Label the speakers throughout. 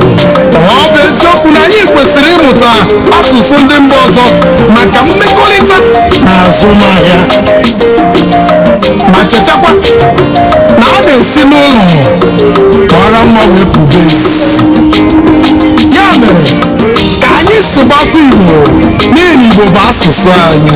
Speaker 1: ọ bụ eziokwu na anyị kwesịrị ịmụta asụsụ ndị mba ọzọ maka mmekọrịta na azụmahịa ma chetakwa na a na-esi n'ụlọ mara mma wee pụbe ezi ya mere ka anyị sụbakwa igbo n'ihi na igbo bụ asụsụ anyị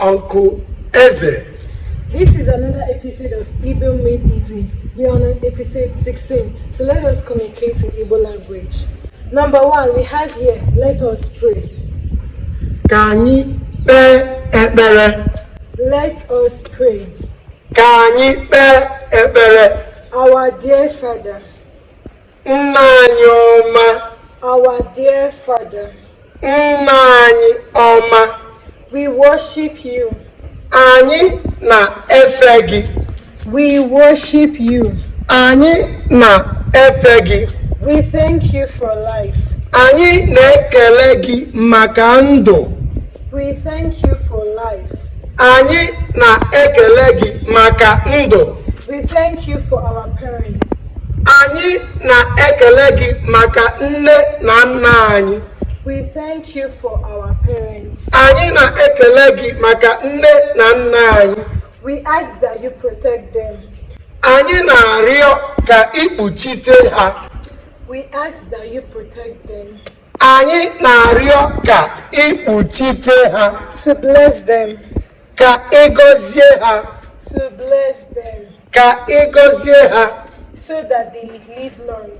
Speaker 2: Uncle
Speaker 1: Eze. This is
Speaker 2: another episode of Igbo Made Easy. We are on episode 16, so let us communicate in Igbo language. Number one, we have here, let us pray. Ka
Speaker 1: anyị kpee ekpere. Let
Speaker 2: us pray. Ka anyị
Speaker 1: kpee ekpere. Our dear
Speaker 2: Father.
Speaker 1: nna anyị ọma our
Speaker 2: dear father nna
Speaker 1: anyị ọma we
Speaker 2: worship you anyị
Speaker 1: na-efe gị we
Speaker 2: worship you anyị
Speaker 1: na-efe gị we thank you
Speaker 2: for life anyị
Speaker 1: na-ekele gị maka ndụ we thank
Speaker 2: you for life anyị
Speaker 1: na-ekele gị maka ndụ we thank you
Speaker 2: for our parents
Speaker 1: Anyị na-ekele gị maka nne na nna anyị. We
Speaker 2: thank you for our parents. Anyị na-ekele
Speaker 1: gị maka nne na nna anyị. We ask that
Speaker 2: you protect them. Anyị
Speaker 1: na-arịọ ka i kpuchite ha. We
Speaker 2: ask that you protect them.
Speaker 1: Anyị na-arịọ ka i kpuchite ha. To bless them.
Speaker 2: Ka ị
Speaker 1: gọzie ha. To bless
Speaker 2: them. ka
Speaker 1: ị gọzie ha so that
Speaker 2: they may live long,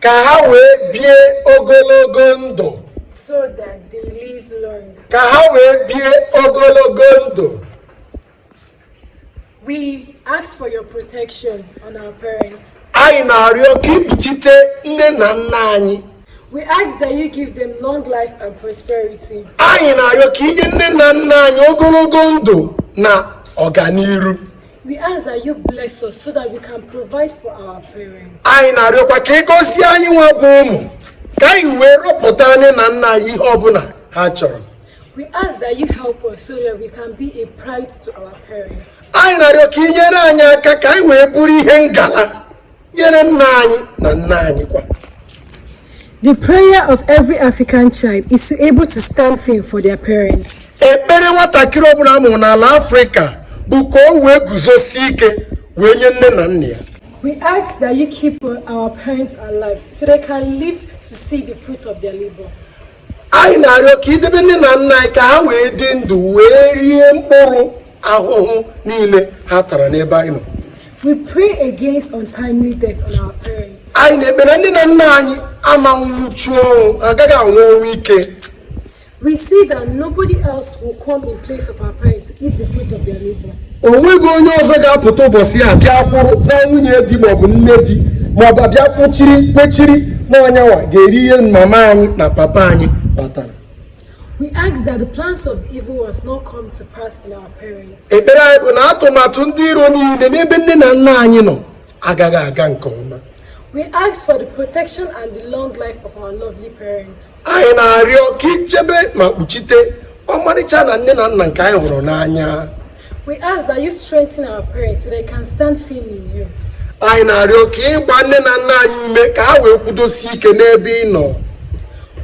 Speaker 2: ka
Speaker 1: ha wee bie ogologo ndụ so that
Speaker 2: they live long. ka ha wee
Speaker 1: bie ogologo ndụ
Speaker 2: We ask for your protection on our parents. anyị
Speaker 1: na-arịọ ka i kpuchite nne na nna anyị We ask
Speaker 2: that you give them long life and prosperity. anyị na-arịọ
Speaker 1: ka i nye nne na nna anyị ogologo ndụ na ọganiru We
Speaker 2: ask that you bless us so that we can provide for our parents. Anyị na-arịọkwa ka ị
Speaker 1: gọzie anyị nwa bụ ụmụ ka anyị wee rọpụta nne na nna anyị ihe ọbụla ha chọrọ. We ask
Speaker 2: that you help us so that we can be a pride to our parents. Anyị na-arịọ ka ị
Speaker 1: nyere anyị aka ka anyị wee bụrụ ihe ngala nyere nne anyị na nna anyị
Speaker 2: kwa The prayer of every African child is to be able to stand firm for their parents. ekpere nwatakịrị
Speaker 1: ọbụla a mụrụ n'ala afrịka bụ ka o wee guzosie ike wee nye nne na nna ya We ask
Speaker 2: that you keep our parents alive so they can live to see the fruit of their labor.
Speaker 1: anyị na-arịọ ka i debe nne na nna anyị ka ha wee dị ndụ wee rie mkpụrụ ahụhụ niile ha tara n'ebe anyị nọ We pray
Speaker 2: against untimely death on our parents. anyị na-ekpe na nne
Speaker 1: na nna anyị ama anwụchu ọnwụ agaghị anwụ ọnwụ ike We
Speaker 2: see that nobody else will come in place of our parents to eat the fruit of their labor. o nweghị
Speaker 1: onye ọzọ ga-apụta ụbọchị ya abịa kwụrụ zaa nwunye di maọbụ nne di maọbụ abịa kwụchiri kwechiri na ọ nyanwa ga-eri ihe mama anyị na papa anyị kpatara We
Speaker 2: ask that the plans of the evil ones not come to pass in our parents. ekpere anyị bụ
Speaker 1: na atụmatụ ndị iro niile n'ebe nne na nna anyị nọ agaghị aga nke ọma We ask for
Speaker 2: the protection and the long life of our lovely parents. anyị
Speaker 1: na-arịọ ka i chebe ma kpuchite ọmarịcha na nne na nna nke anyị hụrụ n'anya We ask that
Speaker 2: you strengthen our parents so they can stand firm in you. anyị na-arịọ
Speaker 1: ka ị gbaa nne na nna anyị ume ka ha wee kwudosie ike n'ebe ị nọ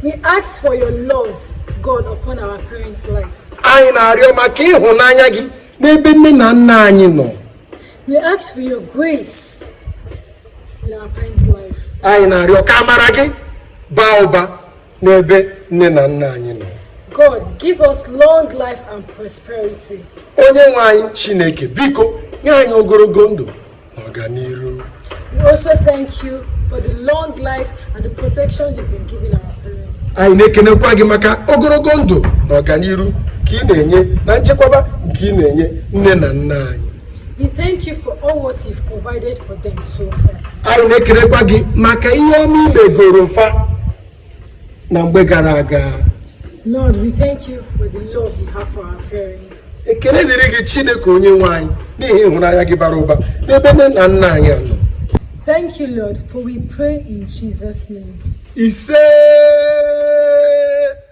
Speaker 1: We
Speaker 2: ask for your love, God, upon our parents' life. anyị na-arịọ
Speaker 1: maka ịhụnanya gị n'ebe nne na nna anyị nọ We
Speaker 2: ask for your grace in our parents' life. Anyị na-arịọ
Speaker 1: ka amara gị baa ụba n'ebe nne na nna anyị nọ. God, give us
Speaker 2: long life and prosperity. Onye nwe anyị
Speaker 1: Chineke, biko nye anyị ogologo ndụ na ọganiru. We
Speaker 2: also thank you for the long life and the protection you've been giving our parents. Anyị na-ekenekwa gị
Speaker 1: maka ogologo ndụ na ọganiru nke ị na-enye na nchekwaba nke ị na-enye nne na nna anyị. We thank
Speaker 2: you for all what you've provided for them so
Speaker 1: far.
Speaker 2: anyị
Speaker 1: na-ekelekwa gị maka ihe ọma i megoro fa na mgbe gara aga Lord, we
Speaker 2: thank you for the love you have for our parents. ekele dịrị
Speaker 1: gị chineke onye nwe anyị n'ihi ịhụnanya gị bara ụba n'ebe nne na nna anyị nọ Thank you,
Speaker 2: Lord, for we pray in Jesus' name. isee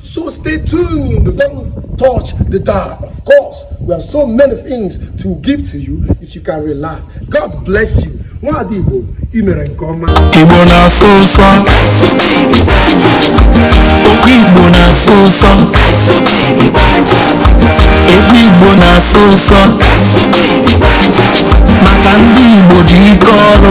Speaker 1: So stay tuned. Don't touch the dial. Of course, we have so many things to give to you if you can relax. God bless you. Nwada Igbo, i mere nke ọma. Igbo na-asọ ụsọ. Okwu Igbo na-asọ ụsọ. Egwu Igbo na-asọ ụsọ. Maka ndị Igbo dị ike ọrụ.